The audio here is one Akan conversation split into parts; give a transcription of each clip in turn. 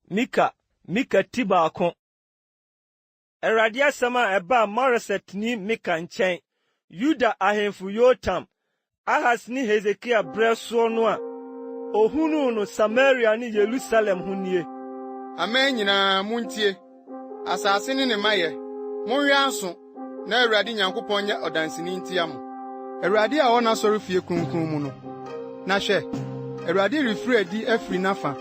Mika, Mika ti baako. Awurade asɛm a ɛbaa Moresetni Mika nkyɛn, Yuda ahemfo Yotam, Ahas ne Hesekia berɛ soɔ no a ɔhunuu no Samaria ne Yerusalem ho nie. Aman nyinaa, montie! Asase ne ne mayɛ, monwe aso, na Awurade Nyankopɔn nyɛ ɔdanseni ntia mo. Awurade a ɔwɔ n'asɔrefie kronkron mu no. Na hwɛ! Awurade refiri adi afiri n'afã,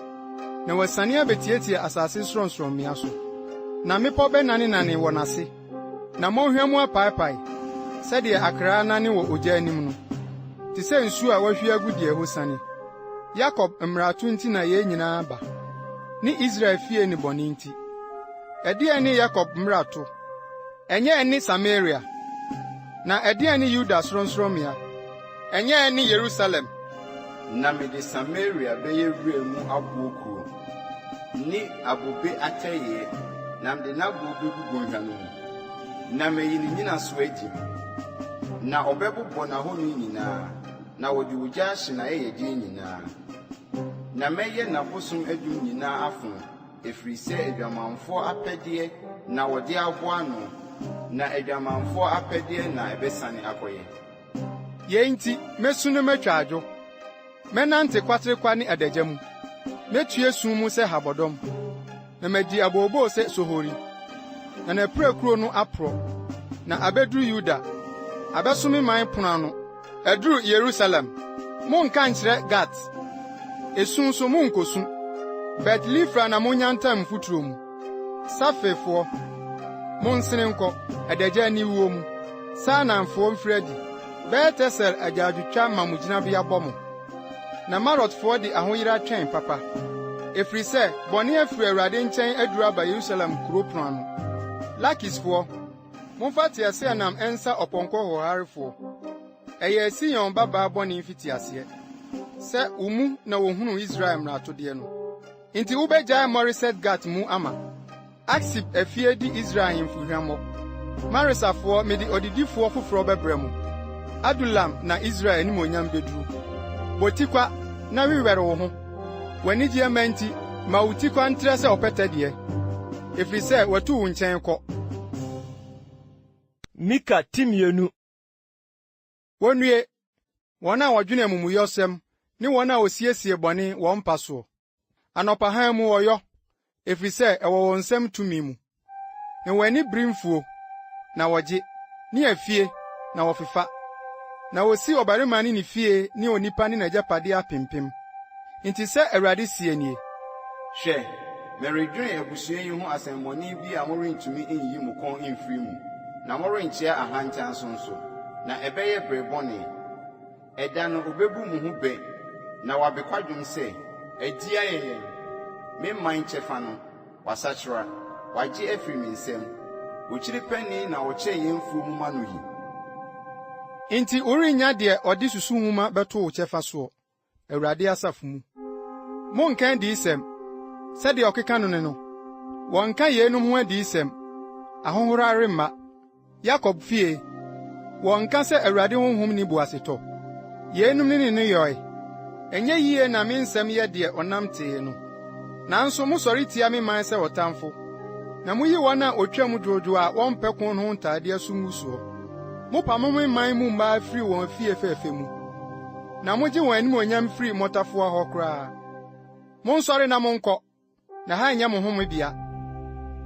na wasiane abetiatia asase sorɔnsorɔmmea so. Na mmepɔ bɛnanenane wɔ n'ase, na mmɔnhwa mu apaapae, sɛdeɛ akra nane wɔ ogya anim no, te sɛ nsuo a wɔahwie agu deɛ ɛhɔ siane. Yakob mmarato nti na yɛn nyinaa ba, ne Israel fie nnebɔne nti. Ɛdeɛn ne Yakob mmarato? Ɛnyɛ ɛne Samaria? Na ɛdeɛn ne Yuda sorɔnsorɔmmea? Ɛnyɛ ɛne Yerusalem? Na mede Samaria bɛyɛ wura mu aboɔ kuro, ne abobe atɛeɛ, na mede n'aboɔ bɛgu bɔnhwa no mu, na mayi ne nnyinasoɔ agye mu, na ɔbɛbobɔ n'ahoni nyinaa. Na wɔde ogya ahye n'ayɛyɛdeɛ nyinaa, na mɛyɛ n'abosom adum nyinaa afono, ɛfiri sɛ adwamanfoɔ apɛdeɛ na wɔde aboa ano, na adwamanfoɔ apɛdeɛ na ɛbɛsane akɔyɛ. Yei nti, mɛsu na matwa adwo, mɛnante kwaterekwa ne adagya mu, mɛtue sum mu sɛ habɔdɔm. na madi abooboo sɛ sohori, na n'apirakuro no aporɔ, na abeduru Yuda, abɛso me man pono ano. Aduru Yerusalem, monka nkyerɛ Gat, esu nso monkosu. Bet-Lifra na monnya ntam mfuturo mu. Safirfoɔ, monsene nkɔ, adagya aniwuo mu. Saananfoɔ mfiri adi, Bet-Esel agyaadwotwa ma mo gyinabea bɔ mo. Na Marotfoɔ de ahoyera twɛn papa, ɛfiri sɛ bɔne afiri Awurade nkyɛn aduru aba Yerusalem kuro pono ano. Lakisfoɔ, momfa teaseɛnam nsa ɔpɔnkɔ hoɔharefoɔ. Ɛyɛɛ Sion babaa bɔne mfitiaseɛ, sɛ wo mu na wɔhunuu Israel mmaratodeɛ no. Enti wobɛgyae Moreset-Gat mu ama. Aksib afie di Israel ahemfo hwammɔ. Maresafoɔ, mede ɔdedifoɔ foforɔ bɛbrɛ mo. Adulam na Israel animuonyam bɛduru. Bɔ tikwa na wewɛre wo ho. W'anigyeɛ mma nti, ma wo tikwa ntrɛ sɛ ɔpɛtɛ deɛ, ɛfiri sɛ watu wo nkyɛn kɔ. Mika ti mmienu. Wonnue, wɔn a wɔdwene amumuyɔsɛm ne wɔn a wɔsiesie bɔne wɔn mpa soɔ. Anɔpa hann mu wɔyɔ, ɛfiri sɛ ɛwɔ wɔn nsam tumi mu. Na wɔn ani bere mfuo, na wɔgye, ne afie, na wɔfefa. Na wɔsi ɔbarima ne ne fie ne onipa ne n'agyapadeɛ apempem. Enti sɛ Awurade seɛ nie. Hwɛ, meredwene abusua yi ho asɛmmɔne bi a morentumi nyi mo kɔn mfiri mu, na morenkyea ahantan so nso, na ɛbɛyɛ berɛ bɔne. Ɛda no ɔbɛbu mo ho bɛ, na wabe kwadwom sɛ, Adi ayɛ yɛn, me man kyɛfa no, wasakyera, wagye afiri me nsam, okyiri panin na ɔkyɛ yɛn mfuo mu ma no yi. Enti worennya deɛ ɔde susu nwoma bɛto wo kyɛfa soɔ, Awurade asafo mu. Monnka adiyisɛm, sɛdeɛ ɔkeka no ne no. Wɔnnka yeinom ho adiyisɛm, ahohora remma. Yakob fie, wɔnnka sɛ Awurade honhom nni boasetɔ. Yeinom ne ne nneyɔɛ. Ɛnyɛ yie na me nsɛm yɛ deɛ ɔnam tee no. Nanso mosɔre tia me man sɛ ɔtamfo, na moyi wɔn a wɔtwam dwoodwoo a wɔmpɛ ko no ho ntaadeɛ so ngusoɔ. Mopamo me man mu mmaa firi wɔn afie fɛfɛ mu. na mogye wɔn animuonyam firi mmotafowa hɔ koraa. Monsɔre na monkɔ, na ha nyɛ mo homebea,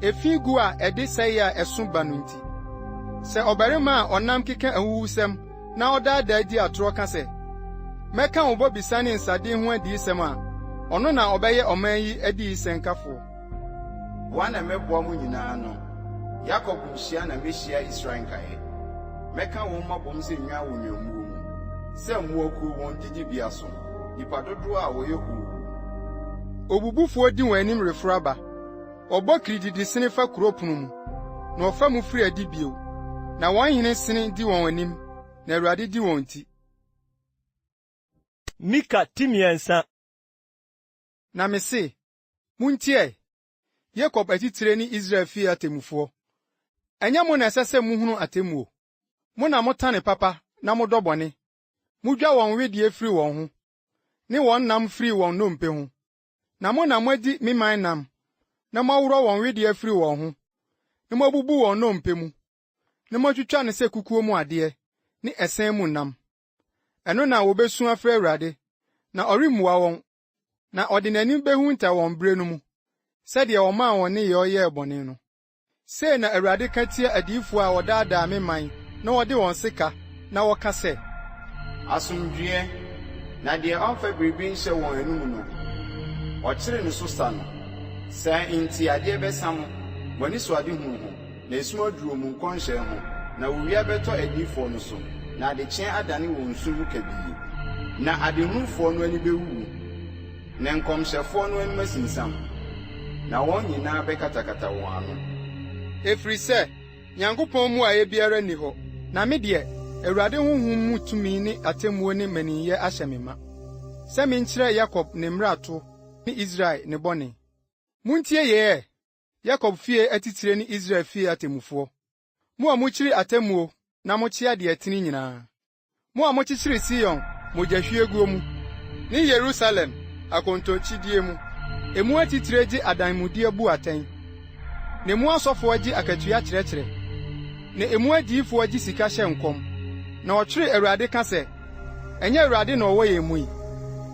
efi gu a ɛde sɛe a ɛso ba no nti. Sɛ ɔbarima a ɔnam keka ahuhusɛm na ɔdaadaa di atorɔ ka sɛ, Mɛka wo bɔbisa ne nsade ho adiyisɛm a, ɔno na ɔbɛyɛ ɔman yi adiyisɛnkafoɔ. Boa na mɛboa mo nyinaa ano, Yakob mmusua na mehyia Israel nkaeɛ. Mɛka wɔn mabom sɛ nnwan wɔ nnwammuo mu, sɛ mmoakuo wɔn didibea so, nnipa dodoɔ a wɔyɛ hoo. Obubufoɔ di wɔn anim reforo aba, ɔbɔ kirididi sene fa kuro pono mu, na ɔfa mu firi adi bio, na wɔn hene sene di wɔn anim, na Awurade di wɔn ti. Mika ti mmiɛnsa. Na mese, Muntie! Yakob atitire ne Israel fie atemmufoɔ, ɛnyɛ mo na ɛsɛ sɛ mohunu atemmuo? Mo na motane papa na modɔ bɔne. Modwa wɔn wedeɛ firi wɔn ho, ne wɔn nam firi wɔn nnompe ho, na mo na moadi me man nam, na moaworɔ wɔn wedeɛ afiri wɔn ho, na moabubu wɔn nnompe mu, na moatwitwa no sɛ kukuo mu adeɛ ne ɛsɛn mu nam. Ɛno na wɔbɛsu afrɛ Awurade, na ɔremmua wɔn, Na ɔde n'anim behunta wɔn bere no mu, sɛdeɛ ɔmaa wɔn nneyɛe yɛɛ bɔne no. Sei na Awurade ka tia adiyifoɔ a wɔdaadaa me man na wɔde wɔn sekaa na wɔka sɛ. Asomdwoeɛ, na deɛ ɔmfa biribi nhyɛ wɔn anom no, wɔkyere ne so sa no. Saa nti adeɛ bɛsa mo, mo anisoadehunu ho. Na esum aduru wɔn nkɔnhyɛ ho, na owia bɛtɔ adiyifoɔ no so, na adekyeɛ adane wɔn nsu ho kabii. Na adehunufoɔ no ani bɛwuwu, na nkɔmhyɛfoɔ no anom asinsam, na wɔn nyinaa bɛkatakata wɔn ano. Ɛfiri sɛ Nyankopɔn mmuaeɛ biara nni hɔ, na me deɛ, Awurade honhom mu tumi ne atemmuo ne mmaninyɛ ahyɛ me ma, sɛ menkyerɛ Yakob ne mmarato ne Israel ne bɔne. Montie yei ɛ! Yakob fie atitire ne Israel fie atemmufoɔ, mo a mokyiri atemmuo na mokyea deɛ ɛtene nyinaa, mo a mokyekyere Sion mogyahwieguo mu, ne Yerusalem akontokyidie mu, emu atitire gye adanmudeɛ bu atɛn, na emu asɔfoɔ gye akatua kyerɛkyerɛ, na emu adiyifoɔ gye sika hyɛ nkɔm, na wɔtwere Awurade ka sɛ, Ɛnyɛ Awurade na ɔwɔ yɛn mu yi?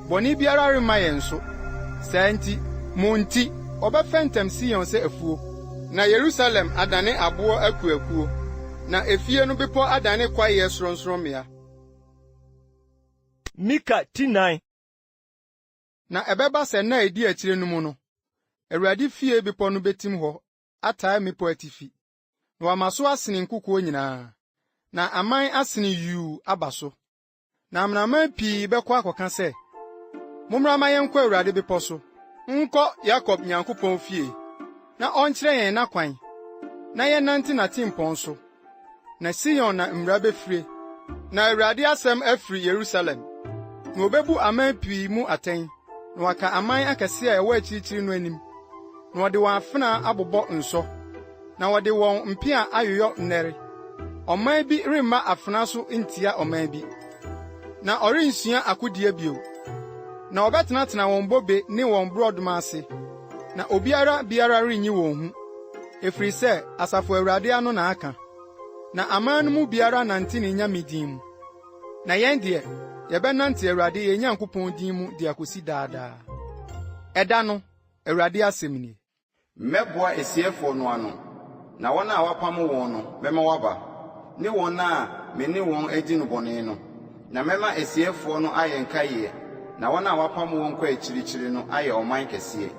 Bɔne biara remma yɛn so. Saa nti, mo nti, wɔbɛfɛntɛm Sion sɛ afuo. Na Yerusalem adane aboɔ akuakuo. Na efie no bepɔ adane kwaeɛ sorɔnsorɔmmea. Mika ti nnan. Na ɛbɛba sɛ nna a ɛdi akyire no mu no, Awurade fie bepɔ no bɛtim hɔ ataa mmepɔ atifi. na wama so asene nkokoɔ nyinaa, na aman asene yuu aba so. Na amanaman pii bɛkɔ akɔka sɛ, Mommra ma yɛnkɔ Awurade bepɔ so, nkɔ Yakob Nyankopɔn fie, na ɔnkyerɛ yɛn n'akwan, na yɛnnante n'atempɔn so. Na Sion na mmura bɛfire, na Awurade asɛm afiri Yerusalem, na ɔbɛbu aman pii mu atɛn. na wɔaka aman akɛse a ɛwɔ akyirikyiri no anim, na wɔde wɔn afenaa abobɔ nsɔ, na wɔde wɔn mpea ayoyɔ nnɛre. Ɔman bi remma afenaa so ntia ɔman bi, na ɔrensua akodie bio. Na wɔbɛtenatena wɔn bobe ne wɔn borɔdoma ase, na obiara biara renyi wɔn hu, ɛfiri sɛ Asafo Awurade ano na aka, na aman no mu biara nante ne nyame din mu. Na yɛn deɛ, yɛbɛnante Awurade yɛn Nyankopɔn din mu de akosi daa daa. Ɛda no, Awurade asɛm nie. Mɛboa asieeɛfoɔ no ano, na wɔn a wɔapamo wɔn no, mɛma wɔaba, ne wɔn a me ne wɔn adi no bɔne no, na mɛma asieeɛfoɔ no ayɛ nkaeɛ, na wɔn a wɔapamo wɔn kɔ akyirikyiri no ayɛ ɔman kɛseɛ.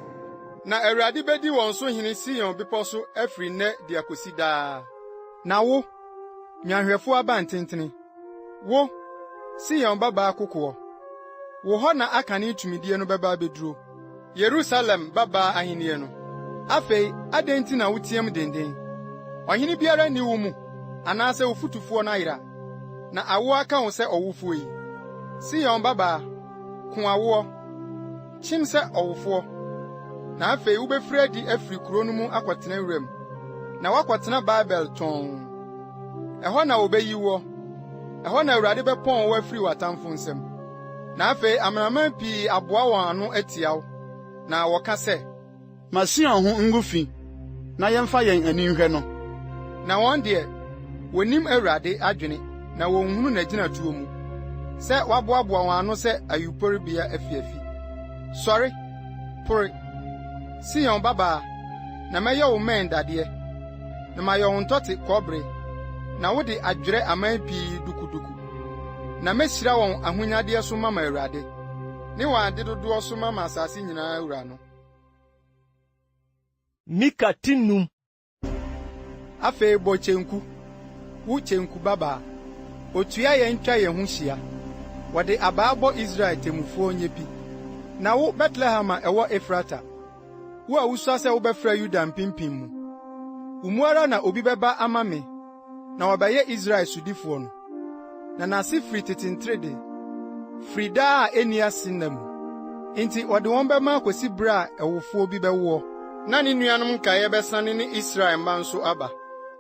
Na Awurade bɛdi wɔn so hene Sion bepɔ so afiri nnɛ de akosi daa. Na wo, Nnwanhwɛfo abantentene, wo, Sion babaa kokoɔ, wo hɔ na akane tumidie no bɛba abɛduro. Yerusalem babaa ahennie no. Afei adɛn nti na woteam denden? Ɔhene biara nni wo mu, anaasɛ wo fotufoɔ no ayera, na awoɔ aka wo sɛ ɔwofoɔ yi. Sion babaa, ko awoɔ! Kyim sɛ ɔwofoɔ, na afei wobɛfiri adi afiri kuro no mu akɔtena wuram, na woakɔtena Babel tɔnn. Ɛhɔ na wɔbɛyi woɔ, ɛhɔ na Awurade bɛpɔn wo afiri w'atamfo nsam. Na afei amanaman pii aboa wɔn ano atia wo, na wɔka sɛ. Ma Sion ho ngu fi, na yɛmfa yɛn ani nhwɛ no. Na wɔn deɛ, wɔnnim Awurade adwene na wɔnhunu n'agyinatuo mu, sɛ wɔaboaboa wɔn ano sɛ ayuporobea afiafi. Sɔre! Pore, Sion babaa, na mɛyɛ wo mmɛn dadeɛ, na mayɛ wo ntɔte kɔbere, na wo de adwerɛ aman pii dukuduku. Na mɛhyira wɔn ahonyadeɛ so mama Awurade, ne wɔn adedodoɔ so mama asase nyinaa Wura no. Mika ti nnum. Afei bɔ kyenku, wo kyenku babaa. Otua yɛn twa yɛn ho hyia. Wɔde abaa bɔ Israel temmufoɔ nyɛ pi. Na wo, Betlehem a ɛwɔ Efrata, wo a wusua sɛ wobɛfra Yuda mpempem mu, wo mu ara na obi bɛba ama me na wɔabɛyɛ Israel sodifoɔ no, na n'ase firi tete ntere de, firi daa a ɛnni ase nna mu. Enti ɔde wɔn bɛma akɔsi berɛ a ɛwofoɔ bi bɛwoɔ, na ne nuanom nkaeɛ bɛsane ne Israel mma nso aba,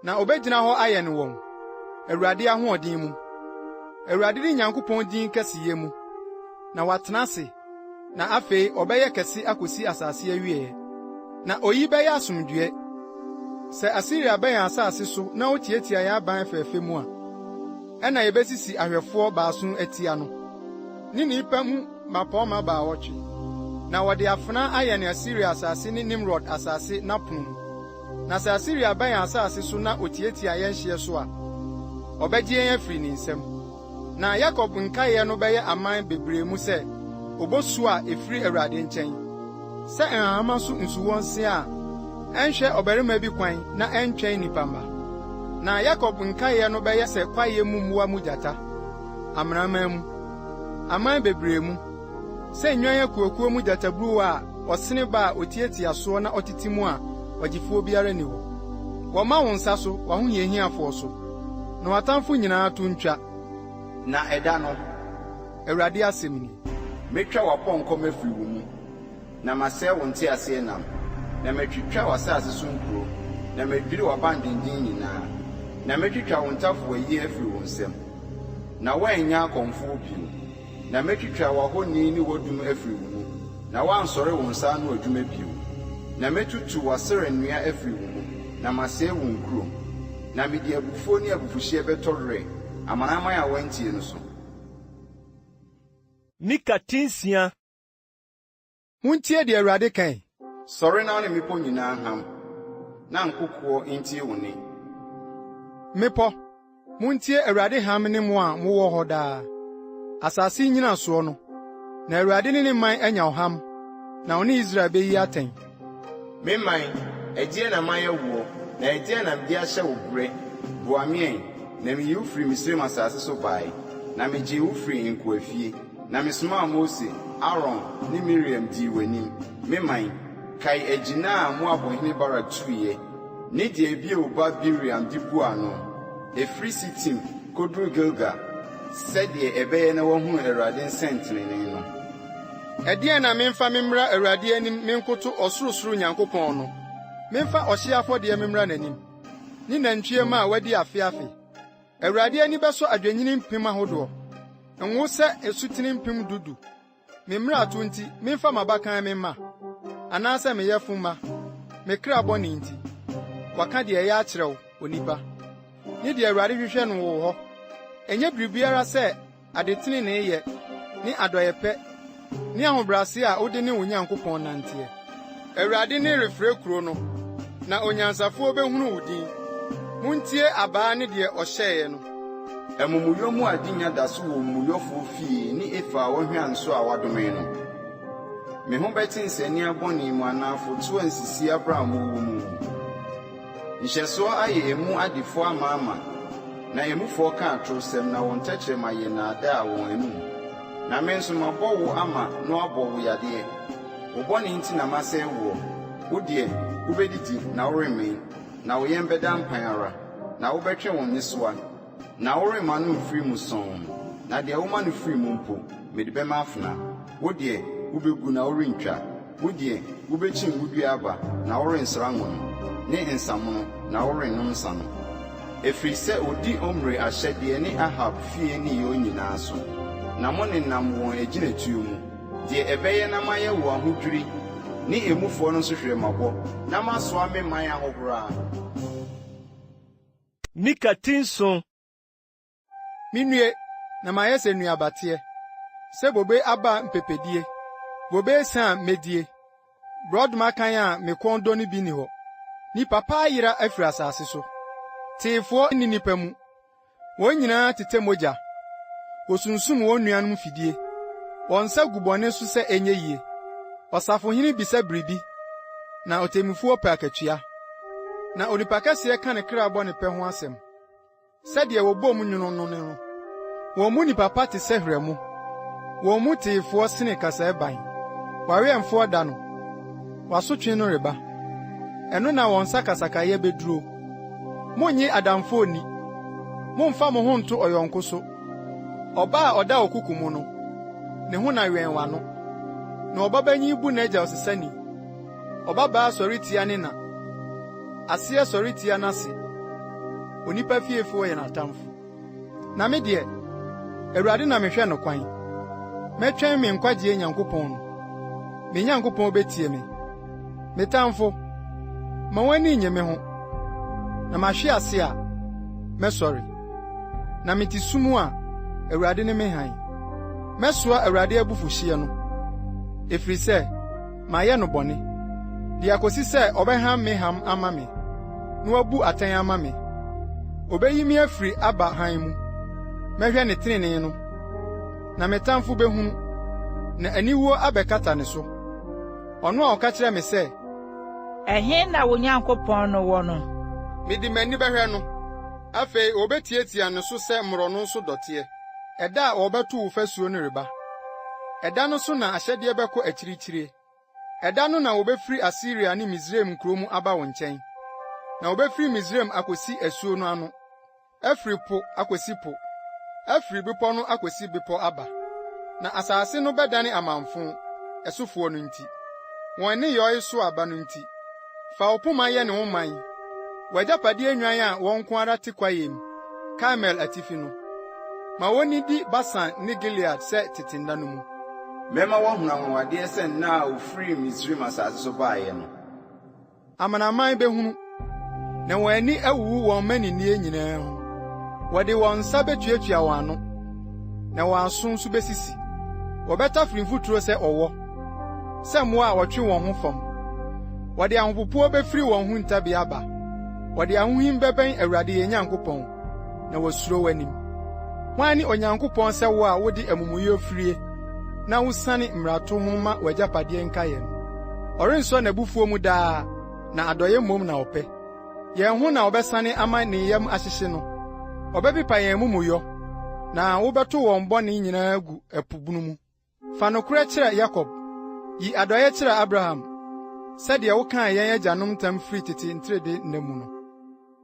na ɔbɛgyina hɔ ayɛ ne wɔn, Awurade ahoɔden mu, Awurade ne Nyankopɔn din kɛseyɛ mu, na watena ase. na afei ɔbɛyɛ kɛse akosi asase awieɛ. Na oyi bɛyɛ asomdwoeɛ. Sɛ Asiria bɛ yɛn asase so na ɔtiatia yɛn aban fɛɛfɛ mu a, ɛnna yɛbɛsisi ahwɛfoɔ baason atia no, ne nnipa mu mmapɔmma baawɔtwe, na wɔde afena ayɛne Asiria asase ne Nimrod asase n'apono mu. Na sɛ Asiria ba yɛn asase so na ɔtiatia yɛn hyeɛ so a, ɔbɛgye yɛn afiri ne nsam. Na Yakob nkaeɛ no bɛyɛ aman bebree mu sɛ obosuo a ɛfiri Awurade nkyɛn, sɛ nhahamma so nsuwɔnsea a ɛnhwɛ ɔbarima bi kwan na ɛntwɛn nnipa mma. Na Yakob nkaeɛ no bɛyɛ sɛ kwaeɛ mu mmoa mu gyata, amanaman mu, aman bebree mu, Sɛ nnwan akuakuo mu gyataburuwa a ɔsene ba a ɔtiatia soɔ na ɔtete mu a ɔgyefoɔ biara nni hɔ. Wɔma wo nsa so, w'ahohiahiafoɔ so. Na w'atamfo nyinaa to ntwa. Na ɛda no, Awurade asɛm nie. Mɛtwa w'apɔnkɔ mu afiri wo mu, na masɛe wo nteaseɛnam, na matwitwa w'asase so nkuro, na madwiri w'abandwendwen nyinaa, na mɛtwitwa wo ntafowayi afiri wo nsam, na worennya akɔmfoɔ bio. Na mɛtwitwa w'ahoni ne w'adum afiri wo mu, na woansɔre wo nsa ano adwuma bio. Na mɛtutu w'Asera nnua afiri wo mu, na masɛe wo nkuro. Na mede abufuo ne abufuhyeɛ bɛtɔ werɛ amanaman a wɔantie no so. Mika ti nsia. Muntie deɛ Awurade ka yi. Sɔre na wo ne mmepɔ nyinaa ham, na nkokoɔ ntie wo nne. Mmepɔ, montie Awurade ham ne mo a mowɔ hɔ daa. Asase nnyinasoɔ no, na Awurade ne ne man anya ɔham, na ɔne Israel bɛyi atɛn. Me man, ɛdeɛn na mayɛ woɔ, na ɛdeɛn na mede ahyɛ wo berɛ? Boa me ɛ, na meyi wo firii Misraim asase so baeɛ, na megyee wo firii nkoafie. Na mesomaa Mose, Aaron, ne Miriam dii w'anim, me man. Kae agyina a Moab hene Barak tuiɛ, ne deɛ Beor ba Bileam de buu ano, ɛfiri Sitim kɔduruu Gilgal, sɛdeɛ ɛbɛyɛ na wɔahunu Awurade nsɛntenenee no. Ɛdeɛn na memfa me mmra Awurade anim menkoto ɔsorosoro Nyankopɔn no? Memfa ɔhyeɛ afɔdeɛ mmra n'anim, ne nantwie mma a wadi afe afe? Awurade ani bɛsɔ adwennini mpem ahodoɔ, Ngo sɛ asutene mpem du du. Me mmarato nti, memfa m'abakan me mma, Anaasɛ me yɛfo mma, me kra bɔne nti. Wɔaka deɛ ɛyɛ akyerɛ wo, onipa, Ne deɛ Awurade hwehwɛ no wɔ wo hɔ, Ɛnyɛ biribiara sɛ adeteneneeyɛ ne adɔeyɛpɛ ne ahobrɛase a wode ne wo Nyankopɔn nanteɛ. Awurade nne refrɛ kuro no, na onyansafoɔ bɛhunu wo din. Montie abaa ne deɛ ɔhyɛeɛ no. Amumuyɔ mu ade nya da so wɔ omumuyɔfoɔ fie ne efa a ɔhwea nso a wɔadome no. Me ho bɛte nsania bɔne mu anaa afotoɔ a nsisi abram wɔ mu. Nhyɛsoɔ ayɛ emu adefoɔ amaama, na emufoɔ ka atorosɛm, na wɔn tɛkyerɛma yɛ nnaadaa wɔn anom. Na me nso mabɔ wo ama na wɔabɔ wo yadeɛ, wo bɔne nti na masɛe woɔ, wo deɛ, wobɛdidi na woremmee, na wo yɛn bɛda mpan ara, na wobɛtwe wo nnesoa. Na woremma no mfiri mu sɔnn, na deɛ woma no firi mu mpo, mede bɛma afena. Wo deɛ, wobɛgu na worentwa, wo deɛ, wobɛkyim wo dua aba na worensra ngo no, ne nsã mono, na worennom nsã no. Ɛfiri sɛ ɔdi Omri ahyɛdeɛ ne Ahab fie nneyɔɔ nyinaa so, na monenam wɔn agyinatuo mu, deɛ ɛbɛyɛ na mayɛ wo ahodwiri ne emufoɔ no nsohwerɛmmabɔ, na masoa me man ahohora. Ne ka ti nson. Minnue, na mayɛ sɛ nnuabateɛ, sɛ bobe aba mpepedie, bobe esian a medie, borɔdoma kann a me kɔn dɔ no bi nni hɔ. Nnipa pa ayera afiri asase so. Teefoɔ nni nnipa mu. Wɔn nyinaa tetɛ mogya. Wɔsunsum wɔn nuanom fidie. Wɔn nsa gu bɔne so sɛ ɛnyɛ yie. Ɔsafohene bisa biribi, na ɔtemmufoɔ pɛ akatua. na onipa kɛseɛ ka ne kra bɔ ne pɛ ho asɛm. Sɛdeɛ wɔbɔ mu nwono no no, wɔn mu nipa pa te sɛ hwerɛmo, wɔn mu teefoɔ sene kasaɛban. W'awɛmfoɔ da no, w'asotwe no reba, ɛno na wɔn sakasakayɛ bɛduro. Monnye adamfoɔ nni, mommfa mo ho nto ɔyɔnko so. Ɔba a ɔda ɔkoko mu no, ne ho na wɛn w'ano, na ɔbabanyin bu n'agya ɔsesani. Ɔbabaa sɔre tia ne na. Aseɛ sɔre tia n'ase. Onipa fiefoɔ yɛ n'atamfo. Na me deɛ, Awurade na mehwɛ no kwan. Mɛtwɛn me nkwagyeɛ Nyankopɔn no. Me Nyankopɔn bɛtie me. Me tamfo, ma w'ani nnye me ho. Na mahwe ase a, mɛsɔre. Na mete sum a, Awurade ne me hann. Mɛsoa Awurade abufuhyeɛ no, ɛfiri sɛ. mayɛ no bɔne, de akosi sɛ ɔbɛham me ham ama me, na wabu atɛn ama me. Obeyi me afiri aba hann mu. Mɛhwɛ ne trenee no, na me tamfo behunu, na aniwuo abɛkata ne so. Ɔno a ɔka kyerɛ me sɛ. Ɛhe na wo Nyankopɔn no wɔ no? Mede m'ani bɛhwɛ no. Afei obetiatia ne so sɛ mmorɔno so dɔteɛ. ɛda a wɔbɛtow wo fasuo no reba. Ɛda no so na ahyɛdeɛ bɛkɔ akyirikyiri. Ɛda no na wɔbɛfiri Asiria ne Misraim nkuro mu aba wo nkyɛn. Na wɔbɛfiri Misraim akɔsi asuo no ano, afiri po akɔsi po, afiri bepɔ no akɔsi bepɔ aba. Na asase no bɛdane amamfõ, ɛsofoɔ no nti, wɔn nneyɔe so aba no nti. Fa wo poma yɛ ne wo man, w'agyapadeɛ nnwan a wɔn nko ara te kwaeɛm, Karmel atifi no. Ma wɔnnidi Basan ne Gilead sɛ tete nna no mu. Mɛma wɔahunu anwanwadeɛ sɛ nna a wɔfirii Misraim asase so baeɛ no. Amanaman bɛhunu, na wɔn ani awuwu wɔn mmaninnie nyinaa ho. Wɔde wɔn nsa bɛtuatua wɔn ano, na wɔn aso nso bɛsisi. Wɔbɛtafere mfuturo sɛ ɔwɔ. sɛ mmoa a wɔtwe wɔn ho fam. Wɔde ahopopoɔ bɛfiri wɔn ho ntabi aba. Wɔde ahohim bɛbɛn Awurade yɛn Nyankopɔn, na wɔasuro w'anim. Hwan ne Onyankopɔn sɛ wo a wode amumuyɔ firie na wosiane mmarato ho ma w'agyapadeɛ nkaeɛ no? Ɔrensɔ n'abufuo mu daa, na adɔeɛ mmom na ɔpɛ. Yɛn ho na ɔbɛsane ama ne yam ahyehye no. Ɔbɛpepa yɛn amumuyɔ, na wobɛto wɔn bɔne nyinaa agu ɛpo bunu mu. Fa nokorɛ kyerɛ Yakob, yi adɔeɛ kyerɛ Abraham, sɛdeɛ wokaa yɛn agyanom ntam firi tete ntrede nna mu no.